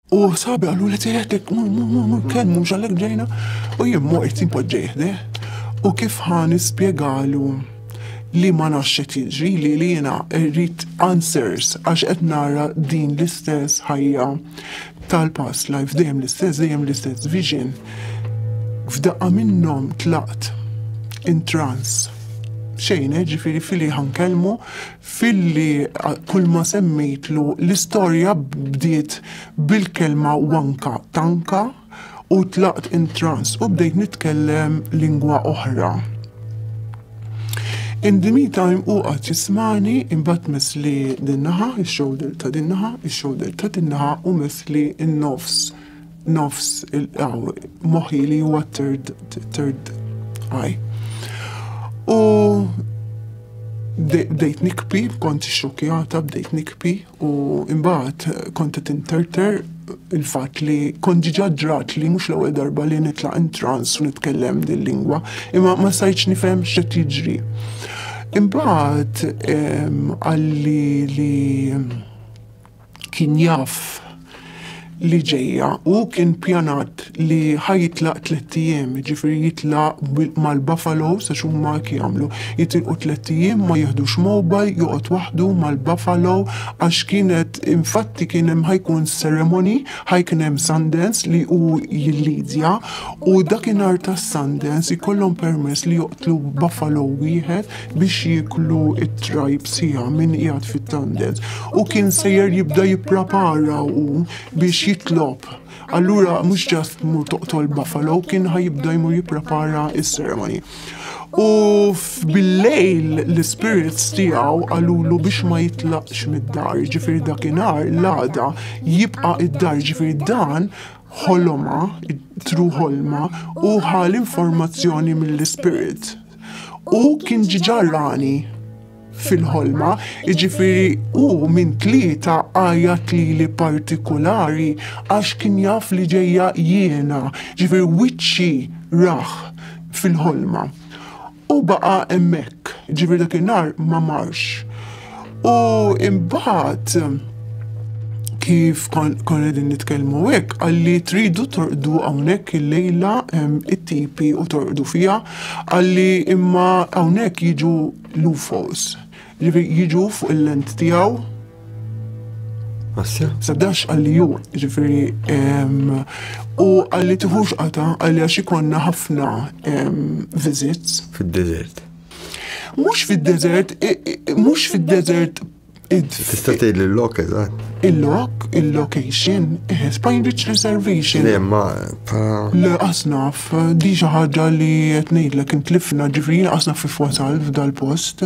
U sabi għallu li teħtek, kelmu mux għallek ġejna, u jimmu għajt impoġġeħde. U kif ħan ispiegalu li ma naxxet jiġri li li jena rrit answers għax qed nara din l-istess ħajja tal-past life dejjem l-istess dejjem l-istess vision. F'daqqa minnhom tlaqt in trans. Xejn, eh, ġifiri fili ħan kelmu Filli kulma semmejtlu l-istorja bdiet bil-kelma wanka, tanka, u tlaqt in trance u bdejt nitkellem lingwa oħra. In the meantime hu qagħad jismagħni imbagħad messli din-naħa, ix-shoulder ta' din-naħa, ix-shoulder ta' din-naħa u messli n-nofs. nofs moħi li huwa third third eye. U bdejt nikpi, kont xokjata, bdejt nikpi u imbagħad kont qed interter il-fatt li kont ġiġa ġrat li mhux l-ewwel darba li nitlaq intrans u nitkellem din lingwa, imma ma sajtx nifhem x'qed jiġri. Imbagħad ehm, għalli li Kien jaf li ġejja u kien pjanat li ħaj jitlaq tliet ijiem, jiġifieri jitlaq mal-Buffalo sa huma jagħmlu. Jitilqu tliet ijiem ma jihdux mobile, joqgħod waħdu mal-Buffalo għax kienet infatti kien hemm ħajkun ceremony, ħaj kien hemm Sundance li hu jillidja u dakinhar tas-Sundance ikollhom permess li joqtlu Buffalo wieħed. biex jieklu it-trajb sija minn qiegħed fit-tandez u kien sejjer jibda jipprapara u biex jitlob. Allura mhux ġast mur toqtol buffalo kien ħajibda jmur jipprapara is-seremoni. U bil-lejl l-spirits tiegħu qalulu biex ma jitlaqx mid-dar, ġifir dakinhar l-għada jibqa' id-dar ġifir dan ħoloma, tru ħolma u ħal informazzjoni mill-ispirit. Hu kien ġiġa rani fil-ħolma, iġifiri u minn tlieta għajat li li partikolari għax kien jaf li ġejja jiena, ġifiri wiċċi rah fil-ħolma. U baqa emmek, ġifiri dak nar ma marx. U imbagħad kif kon qegħdin nitkellmu hekk għalli tridu torqdu hawnhekk il-lejla it-tipi u torqdu fiha għalli imma hawnhekk jiġu l-UFOs. Ġifieri jiġu fuq il-lent tiegħu Sabdax għalli ju, ġifiri, u għalli tiħux għata għalli għax ikonna ħafna visits. Fil-desert. Mhux fid-deżert, mhux fid-deżert Tista' tgħid il-lok eżatt. Il-lok, il-location, eh, Spine Beach Reservation. Le, ma. Le, asnaf, di xi ħaġa li qed ngħidlek intlifna ġifieri asnaf fi wasal f'dal-post.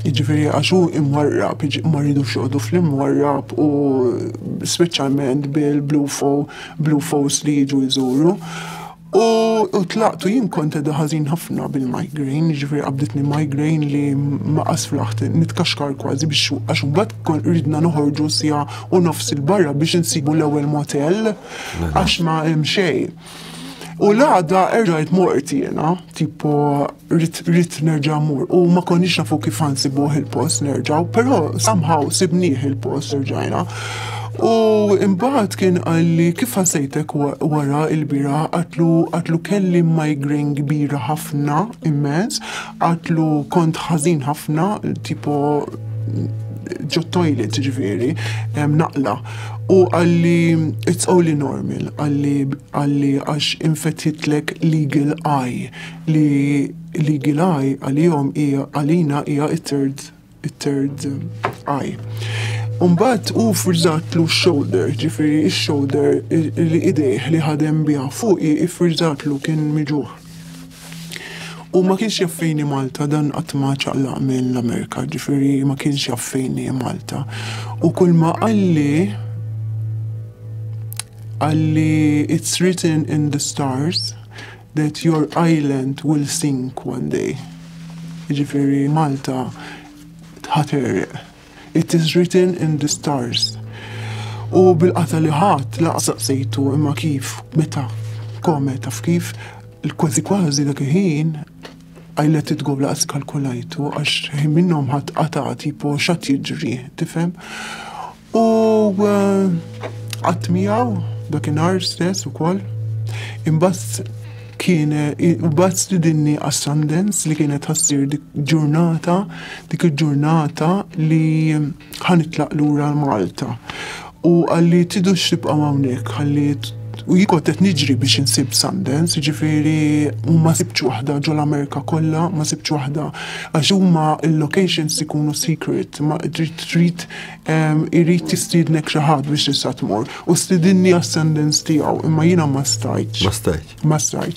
Jiġifieri għax hu imwarrab, ma rridux joqogħdu fl-imwarrab u speċjalment bil-blue blue falls li jiġu jżuru. U tlaqtu jien kont edha ħażin ħafna bil-migraine, ġifieri qabditni migraine li ma qasflaħt nitkaxkar kważi biex għax imbagħad kon ridna noħorġu sija u nofs il-barra biex insibu l-ewwel motel għax ma hemm xejn. U l-għada erġajt mort jena, tipo rrit nerġa mur u ma konniex nafu kif għansi buħ il-post nerġaw, pero somehow sibniħ il-post nerġajna. U imbaħt kien għalli kif għasajtek wara il-bira għatlu għatlu kelli migraine kbira ħafna immens, għatlu kont ħazin ħafna, tipo ġo toilet ġveri, naqla. U għalli it's only normal, għalli għalli għax infetħitlek legal eye, li legal eye għalihom hija għalina hija it-third it-third eye. Umbat u frizzatlu shoulder, ġifiri shoulder li idejh li ħadem biha fuqi ifrizzatlu kien miġuħ. U ma kienx jaffejni Malta, dan qatt ma ċaqlaq minn l-Amerika, ġifiri ma kienx jaffejni Malta. U kull ma qalli, qalli it's written in the stars that your island will sink one day. Ġifiri Malta tħaterreq. It is written in the stars. U bil-qata li ħadd laqsaq sejtu imma kif, meta, kome, taf kif, kważi kważi dak il-ħin I let it go laqas kalkulajtu għax ħin minnhom ħadd qata tipo x'għad jiġri, tifhem? U qatt eh, miegħu dakinhar stess ukoll imbagħad Kien imbagħad stidinni għas-Sundance li kienet ħassir dik ġurnata, dik il-ġurnata li ħanitlaq lura Malta. U għalli tidu xtibqa hawnhekk, għalli u jikot qed niġri biex insib Sundance, ġifiri u ma sibċ waħda ġol Amerika kollha, ma sibċ waħda għax huma il-locations ikunu secret, ma trid Irid jistiednek xi ħadd biex tista' tmur. U stidinni għas-sentence tiegħu, imma jiena ma stajtx. Ma stajtx. Ma stajtx.